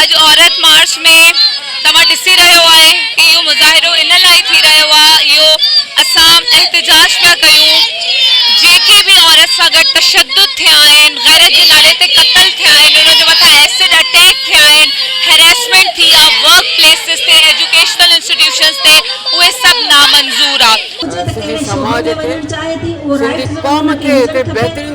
اڄ عورت مارچ ۾ توهان ڏسي رهيو آهي ته اهو مظاهرو ان لاء ٿي رهيو آهي اهو اسان احتجاج پيا ڪيون جيڪي به عورت سان گڏ تشدد ٿيا آهن غيرت جي نالي تي قتل ٿيا آهن انهن جي مٿان ايسڊ اٽيڪ ٿيا آهن هريسمينٽ ٿي آهي ورڪ پليسز تي ايجوڪيشنل انسٽيٽيوشنز تي اهي سڀ نامنظور آهي. سنڌي سماج کي سنڌي قوم کي هتي بهترين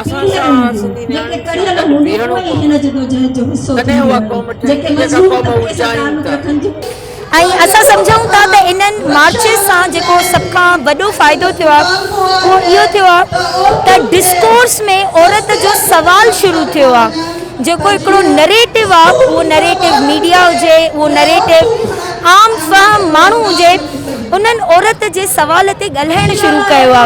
اسان سان سنڌي نياڻين سان گڏ بيهڻو پوندو، تڏهن اها قوم ٺهندي جيڪا قوم اهو چاهيون ٿا. ۽ اسان سمجهون ٿا ته انهن مارچز سان جيڪو سڀ کان وڏو فائدو ٿيو آهي اهو اهو ٿيو آهي ته ڊسڪورس ۾ عورت جو سوال شروع ٿيو آهي. جيڪو هڪڙو نريٽو آ اهو نريٽو ميڊيا هجي اهو نريٽو عام فهم ماڻهو هجي انهن عورت جي سوال تي ڳالهائڻ شروع ڪيو آ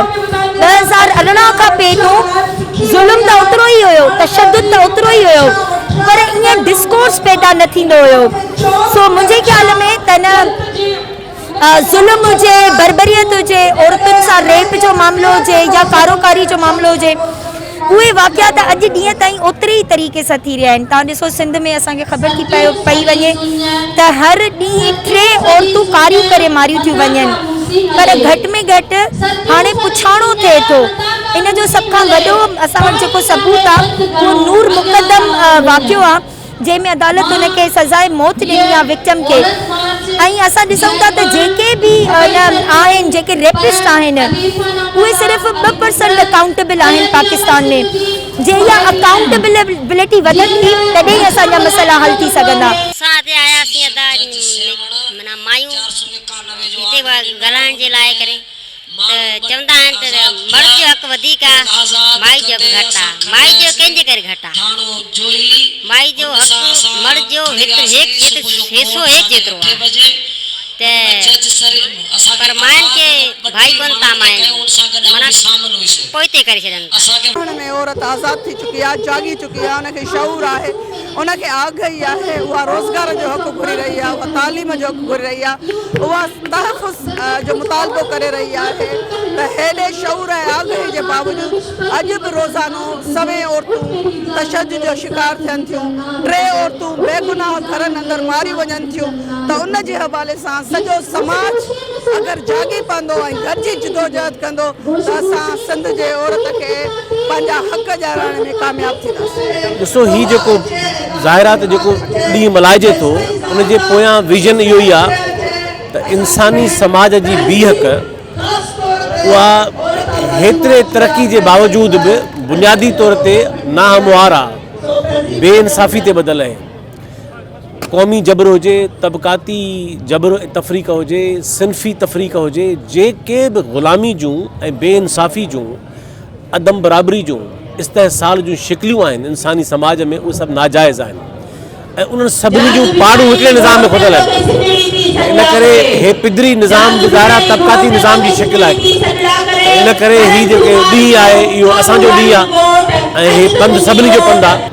ٻه هزار ارڙهن کان پي تون ظلم ته اوترو ئي هيو تشدد ته اوترو ئي هيو پر ائين ڊسڪورس پيدا نه ٿيندو هيو سو منهنجي خيال ۾ ته ان ظلم هجي، بربريت هجي، عورتن سان ريپ جو معاملو هجي يا ڪارو ڪاري جو معاملو هجي اهي واقعا ته اڄ ڏينهن تائين اوتري ئي طريقي سان ٿي رهيا آهن توهان ڏسو سنڌ ۾ اسان کي خبر ٿي پئي وڃي ته هر ڏينهن ٽي عورتون ڪاريون ڪري ماريون ٿيون وڃن پر گهٽ ۾ گهٽ هاڻي پڇاڻو ٿئي ٿو ان جو سڀ کان وڏو اسان وٽ جيڪو ثبوت آهي اهو نور مقدم واقعو آهي. جنهن ۾ عدالت ان کي سزاء موت ڏني آهي وڪٽم کي ۽ اسان ڏسون ٿا ته جيڪي به ان آهن جيڪي ريپسٽ آهن اهي صرف ٻه پرسنٽ اڪائونٽيبل آهن پاڪستان ۾ جي اها اڪائونٽيبلٽي وڌندي تڏهن ئي اسان جا مسئلا حل ٿي سگهندا. اسان هتي آياسين ادا معنيٰ مايون هتي ڳالهائڻ جي لاء ڪري. ته چوندا آهن ته مرد جو حق وڌيڪ آ، مائي جو حق گهٽ آ. مائي جو ڪنهن جي ڪري گهٽ آ؟ مائي جو حق مرد جو هيترو هيڪ جيترو حصو هيڪ جيترو آ ته پر مائن کي ڀائي ڪونه تا مائن معنيٰ پوئتي ڪري ڇڏين ٿا. مائن ۾ عورت آزاد ٿي چڪي آ، جاڳي چڪي آ، ان کي شعور آهي. ان کي آگهي آهي اها روزگار جو حق گهري رهي آهي، اها تعليم جو حق گهري رهي آهي، اها تحفظ جو مطالبو ڪري رهي آهي ته هيڏي شعور ۽ آگهي جي باوجود اڄ به روزانو سوين عورتون تشدد جو شڪار ٿين ٿيون، ٽي عورتون بيگناهه گهرن اندر ماريون وڃن ٿيون ته ان جي حوالي سان سڄو سماج. اگر جاڳي پوندو ۽ گڏجي جدوجهد ڪندو ته اسان سنڌ جي عورت کي پنهنجا حق ڏيارائڻ ۾ ڪامياب ٿينداسين. ڏسو هي جيڪو ظاهر آهي ته جيڪو ڏينهن ملهائجي ٿو ان جي پويان ويزن اهو ئي آهي ته انساني سماج جي بيهڪ اها هيتري ترقي جي باوجود به بنيادي طور تي ناهموار آهي، بي انصافي تي ٻڌل اهي. قومي جبر هجي، طبقاتي جبر ۽ تفريق هجي، صنفي تفريق هجي، جيڪي به غلامي جون ۽ بي انصافي جون، عدم برابري جون، استحصال جون شڪليون آهن انساني سماج ۾ اهي سڀ ناجائز آهن ۽ انهن سڀني جون پاڙون هڪڙي نظام ۾ ڦٿل آهن ۽ ان ڪري هي پدري نظام به ظاهرا طبقاتي نظام جي شڪل آهي ۽ ان ڪري هي جيڪو ڏينهن آهي اهو اسان جو ڏينهن آهي ۽ هي پنڌ سڀني جو پنڌ آهي.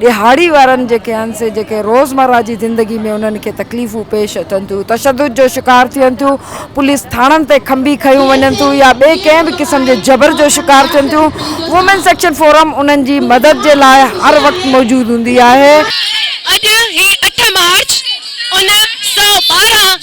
ڏهاڙي وارن جيڪي آهن سي جيڪي روزمره جي زندگي ۾ انهن کي تڪليفون پيش اچن ٿيون، تشدد جو شڪار ٿين ٿيون، پوليس ٿاڻن تي کنڀي کنيون وڃن ٿيون يا ٻئي ڪنهن به قسم جي جبر جو شڪار ٿين ٿيون، وومينز ايڪشن فورم انهن جي مدد جي لاء هر وقت موجود هوندي آهي. اڄ هي اٺ مارچ ان سؤ ٻارهن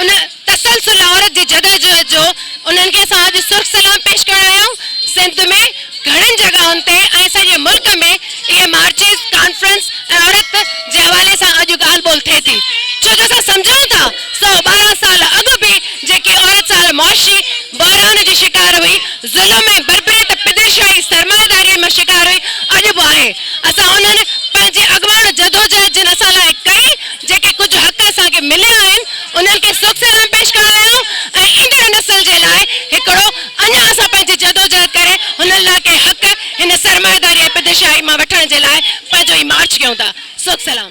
ان تسلسل عورت جي جدوجهد جو انهن کي اسان اڄ سرخ سلام پيش ڪرڻ آيا آهيون. سنڌ ۾ گهڻين جڳهن تي ۽ سڄي ملڪ ۾ اهي مارچز، ڪانفرنس ۽ عورت جي حوالي سان اڄ ڳالهه ٻولهه ٿئي ٿي ڇو جو اسان سمجهون ٿا سؤ ٻارهن سال اڳ به جيڪي عورت سال معاشي بحران جي شڪار هئي، ظلم ۽ بربريت پدرشاهي سرمائيداري مان شڪار هئي اڄ به آهي. اسان انهن پنهنجي اڳواڻ جدوجهد جن اسان لاء ڪئي جيڪي ڪجهه حق اسان کي مليا آهن، انهن کي سوڪ سلام پيش ڪرڻ لاء آئون ۽ ايندڙ نسل جي لاء هڪڙو اڃا اسان پنهنجي جدوجهد ڪري هنن لاء ڪي حق هن سرمائيداري ۽ پدشاهي مان وٺڻ جي لاء پنهنجو هي مارچ ڪيون ٿا. سوڪ سلام.